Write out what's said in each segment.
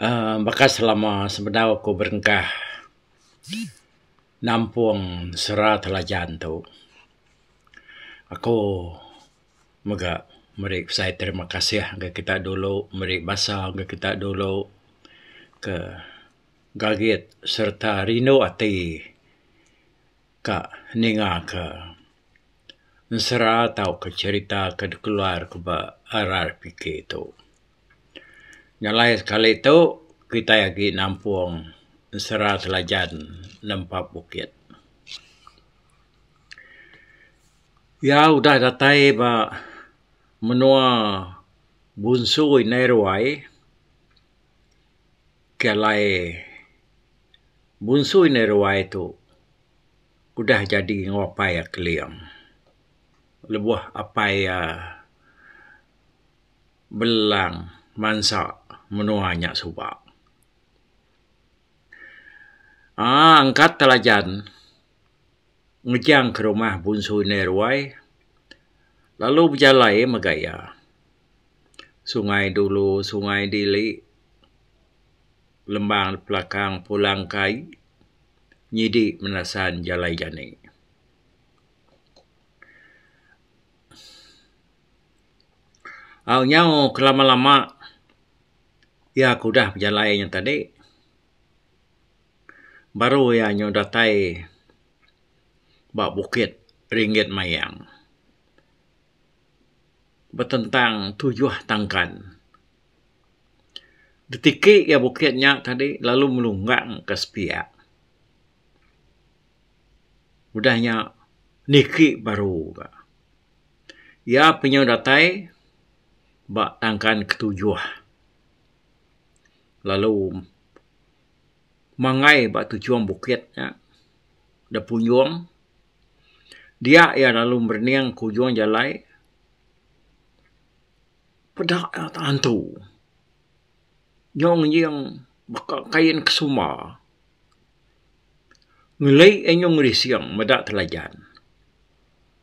uhh baka selama sebedau aku berengkah nampung sera telajan tu aku mega meri pesai terima kasih ngagai kita dulu meri basa ngagai kita dulu ke gagit sereta rindu ati ka ninga ka ensera tauka cherita ka dikeluar ka ba RRPK tu. Nyelai sekali tu kitai agi nampung Ensera Selajan nempa bukit. Iya udah datai ba menua Bunsu indai ruai ke alai Bunsu indai ruai tu udah jadi enggau apai iya Keling lebuh apai iya belang bansa menua nya suba. Aaa angkat telajan ngejangka rumah Bunsu Indai Ruai lalu bejalai mega iya. Sungai Dulu, Sungai Dili, Lembang Pelakang, Pulang Kai nyidi menasan jalai jani. Au nyau kelama-lama iya ke udah bejalai nya tadi baru iya nyau datai ba Bukit Ringgit Mayang betentang tujuh tangkan. Ditiki iya bukit nya tadi lalu melunggang ka sepiak. Udah nya niki baru ka. Iya penyu datai ba tangkan ketujuh lalu mangai ba tujung bukit nya da punjung dia iya lalu merening ke ujung jalai peda iya tantu nyau ngejing baka kain ke sumba ngeli iya nyau ngelising meda telajan.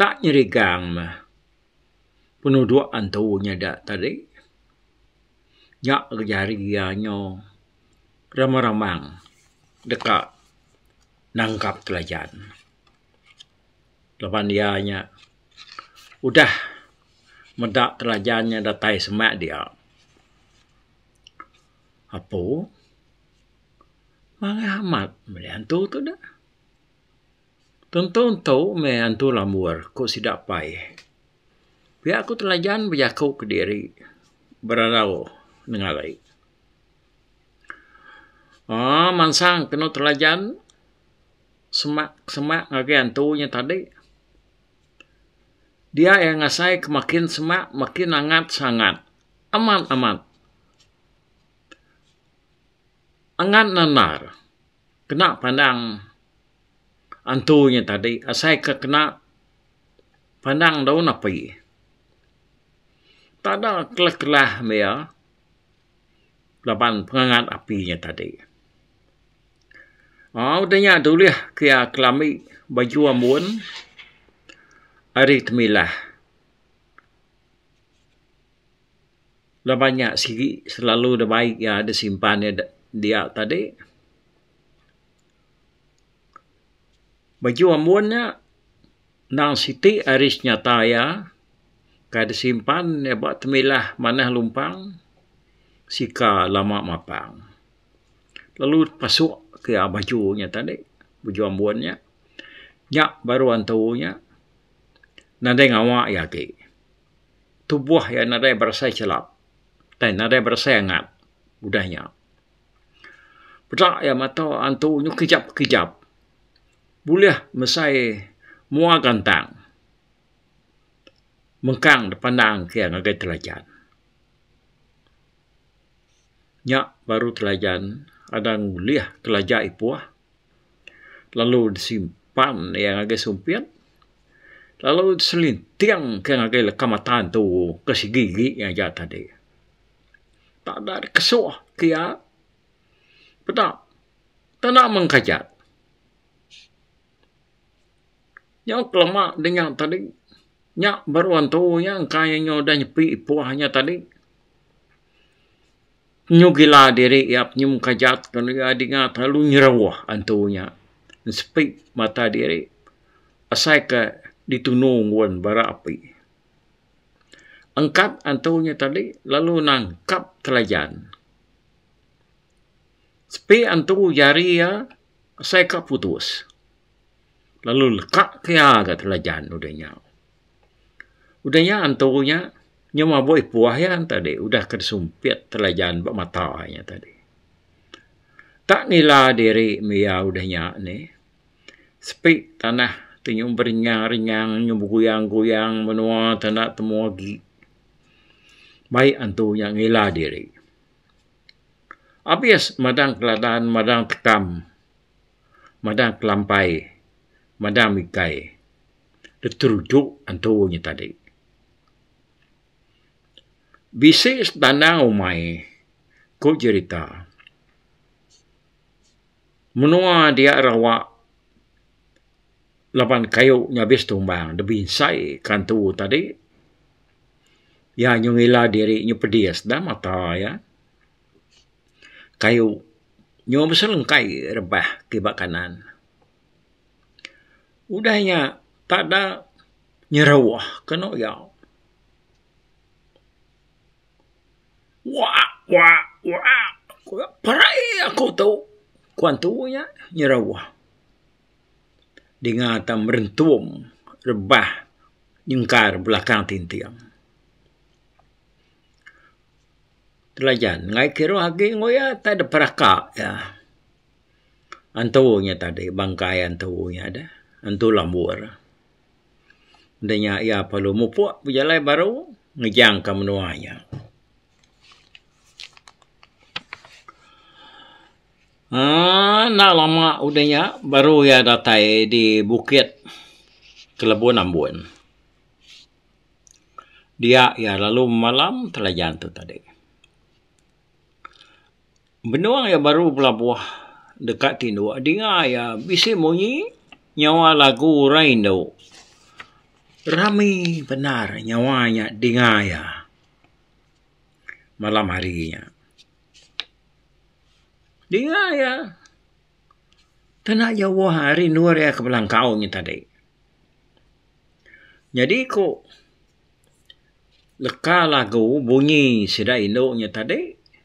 Tak nyerigang meh penuduk antu nyada tadi. Nya ke jari iya nyu remang remang deka nangkap telajan. Laban iya nya udah meda telajan nya datai semak dia. Apo manah amat meli antu tu deh. Tentu entu meh antu lambur, ku sida pai. Pia ku Telajan bejaku kediri berarau nengari. Aaa mansang kenu Telajan semak semak ngagai antu nya tadi. Dia iya ngasai ke makin semak makin angat sangat. Amat amat. Angat nanar kena pandang. antu nya tadi asai ke kena pandang daun api. Tada kelah-kelah meh iya laban pengangat api nya tadi. Aaa udah nya dulih ke iya kelami baju ambun ari temilah. Laban nya sigi selalu da bai iya disimpan iya dia tadi. Baju ambun nya nang siti ari senyata iya kai disimpan iya ba temilah manah lumpang sika lama mapang lalu pasu iya baju nya tadi baju ambun nya nya baru antu nya nadai ngawa iya agi tubuh iya nadai berasai chelap nadai berasai angat udah nya. Peda iya mata antu bekejap kejap bulih mesai mua gantang mengkang dipandang ke iya ngagai telajan. Nya baru telajan anang ulih kelaja ipoh lalu disimpan iya ngagai sumpit lalu diselinting ke iya ngagai leka mata antu ke sigi agi aja tadi. tak da dikesuh ke iya peda tanda mengkajat nyau kelama dinya tadi nya baru antu iya engka iya nyau udah nyepi ipoh iya tadi nyu gila diri iya nyu mengkajat lalu iya dinga terlalu nyeruah antu iya sepi mata diri asai ke ditunu ngun bara api. Engkap antu nya tadi lalu nangkap Kelajan. Sepi antu jari iya asai ka putus lalu leka ke iya ga Kelajan udah nya. Udah nya antu nya nya mabui puah iya tadi udah ke disumpit Kelajan ba mata iya tadi. Tak nila diri mih iya udah nya ni. Sepi tanah ti nyuh beringang-ringang nyuh beguyang-guyang menua ti enda temu agi. Mai antu nya ngila diri. Abis madang keladan madang tekam madang kelampai madang mikai diteruju antu nya tadi. Bisi setanang umai ku jerita. Menua dia rawa laban kayu nyabis tumbang da binsai ka antu tadi iya nyu ngila diri nyu pedis da mata iya. Kayu nyu beselengkai rebah ti ba kanan. Udah iya tada nyeruh kenu iya. Waak waak waak perai aku tu ku antu nya nyeruah dinga ta merentum rebah nyengkar belakang tinting. Telajan angai kiruh agi ku iya tai dep raka iya. Antu nya tadi bangkai antu nya deh antu lambur. Enda nya iya perlu mupuk bejalai baru ngejangka menua iya. Aaa enda lama udah nya baru iya datai di bukit Kelebun Ambon. Dia iya lalu bemalam telajan tu tadi. Benung iya baru belabuh deka tinduk dinga iya bisi munyi nyawa lagu orang indu. Rami bendar nyawa nya dinga iya malam hari nya. Dinga iya tena jauh rindu iya ke belangkau nya tadi. Nyadi ku leka lagu bunyi sida indu nya tadi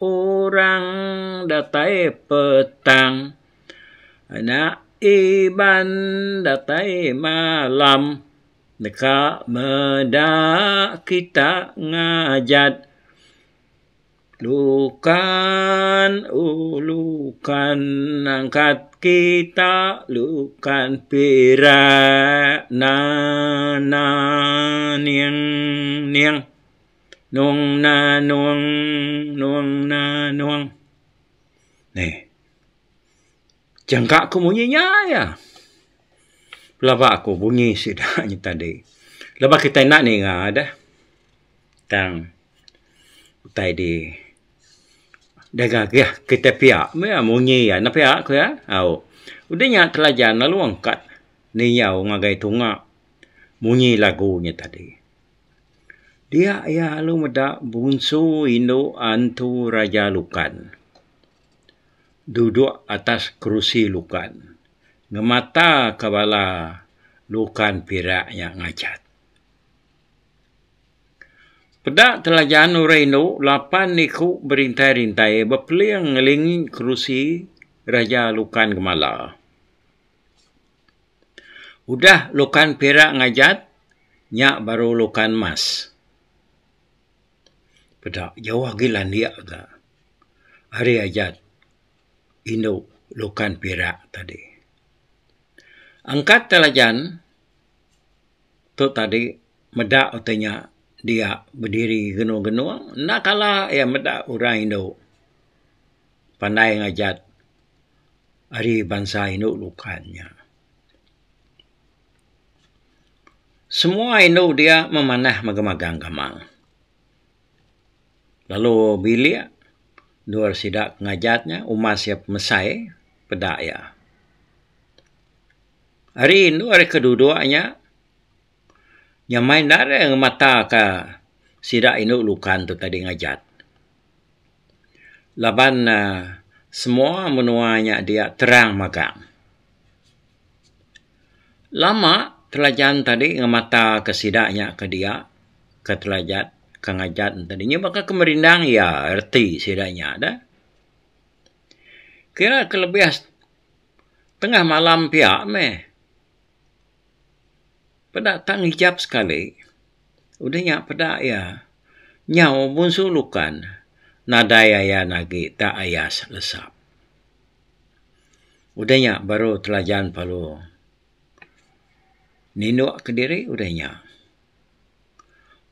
orang datai petang anak iban datai malam deka meda kita ngajat lukan oh lukan angkat kita lukan perak na na ning ning Nong na nong, nong na nong. Neh. Jangka ku munyi nya iya. Pelaba ku bunyi sida nya tadi. Laban kitai enda ninga deh. Tang utai di deka agih kitai pia meh iya munyi iya. Enda pia ku iya. Au. Udah nya telajan lalu angkat niyau ngagai tunga munyi lagu nya tadi. Dia iya lalu meda bunsu indu Antu Raja Lukan duduk atas kerusi Lukan ngemataka bala Lukan pira nya ngajat. Peda telajan orang indu lapan iku berintai-rintai bepeling ngelingi kerusi Raja Lukan Gemala. Udah lukan pirak ngajat, nya baru lukan mas. Peda jauh agi landik ga ari ajat indu lukan pirak tadi. Angkat telajan tu tadi meda ti nya dia bediri genung-genung enda kala iya meda orang indu. pandai ngajat ari bansa indu bukai nya. Semua indu dia memanah mega magang gamang. Lalu bilik endur sida ke ngajat nya umas iya pemesai peda iya. Ari indu ari ke duduk nya Nyamai enda alai ngemataka sida indu Lukan tu tadi ngajat. Laban semua menua nya dia terang magang. Lama Telajan tadi ngemataka sida nya ke dia ke Telajat ke ngajat enti nya baka ke merindang iya reti sida nya deh. Kira kelebih tengah malam pia meh. Peda tang ijap sekali udah nya peda iya nyau mun su lukan nadai ayan agi ta ayas lesap. Udah nya baru telajan palu ninuk kediri udah nya.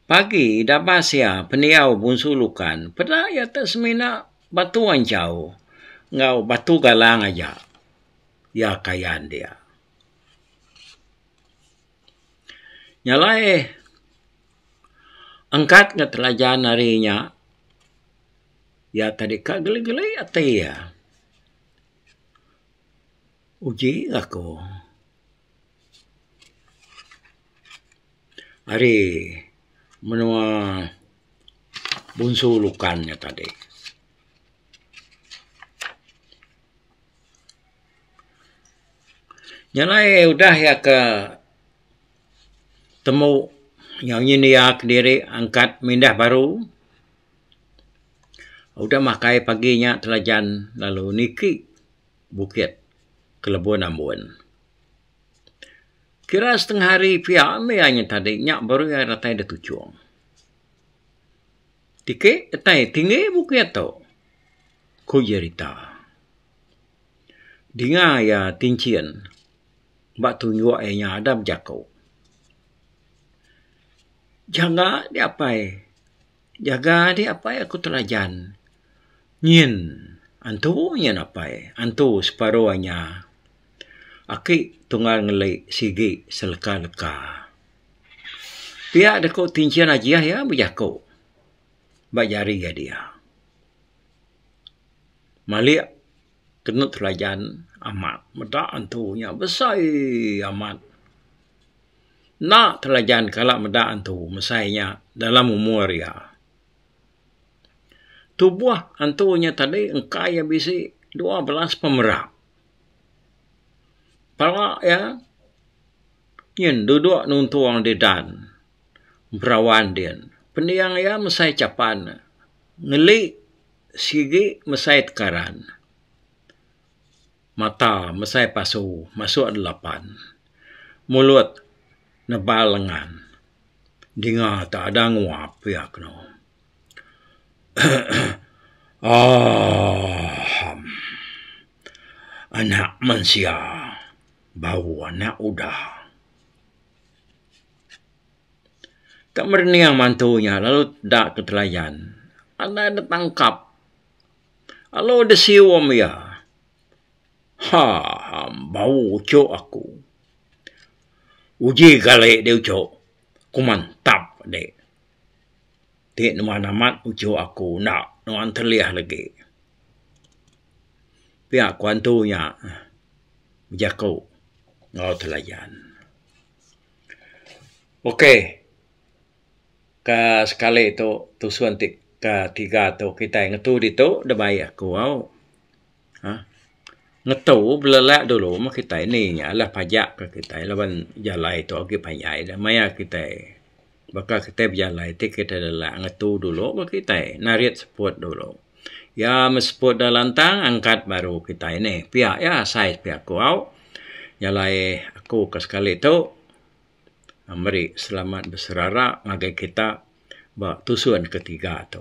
Pagi ida bas iya pendiau bunsu lukan peda iya ti semina batu anchau enggau batu galang aja iya kayan dia. Nya alai angkat ga telajan ari inya iya tadi ka geli-geli ati iya. Uji aku ari menua Bunsu Lukan nya tadi. Nya alai udah iya ke temu nyau nyin iya kediri angkat mindah baru. Udah makai pagi nya telajan lalu niki bukit Kelebon Ambon. Kira setengah hari pia meh iya nyen tadi nya baru iya datai dituchung. Tike petai tinggi buke tu? ku Jerita. Dinga iya tinchin ba tunjuk iya nya ada bejaku. Jaga di apai, jaga di apai aku telajan. Nyin antu nyin apai, antu separu inya. Aki tunggal ngeli sigi seleka leka. Pia da ku ti Enchin Ajiah iya bejaku ba jari ga dia. Malik tenut telajan amat meda antu nya besai amat. Enda telajan kala meda antu mesai nya dalam umur iya. Tubuh antu nya tadi engka iya bisi dua belas pemera. Pala iya Nyin duduk nuntung di dan Berawan din. Pending iya mesai chapan ngeli sigi mesai tekaran. Mata mesai pasu masuk di lapan. Mulut nebal lengan dinga tu ada nguap iya keno. Anak mensia. bau anak udah. Ka merening mantu nya lalu da ke telayan. Andai dep tangkap lalu deh sium iya. Ha bau uchu aku. Uji gale deh uchu ku mantap deh. Ti nuan amat ujok aku enda nuan telih legi. Pia ku antu nya bejaku enggau telayan. Ok ka sekali tu tusun ti ka tiga tu kitai ngetu ditu deba iya kuau. um ngetu belelak dulu meh kitai ni nya lah pajak ke kitai laban jalai tu agi panjai da maya kitai baka kitai bejalai ti kitai lelak ngetu dulu baru kitai narit seput dulu. Ya me seput da lantang angkat baru kitai ni pia iya asai pia aku au jalai aku ke sekali tu meri selamat beserara ngagai kita ba tusun ke tiga tu.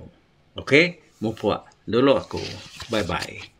Okay, mupuk dulu aku. Bye-bye.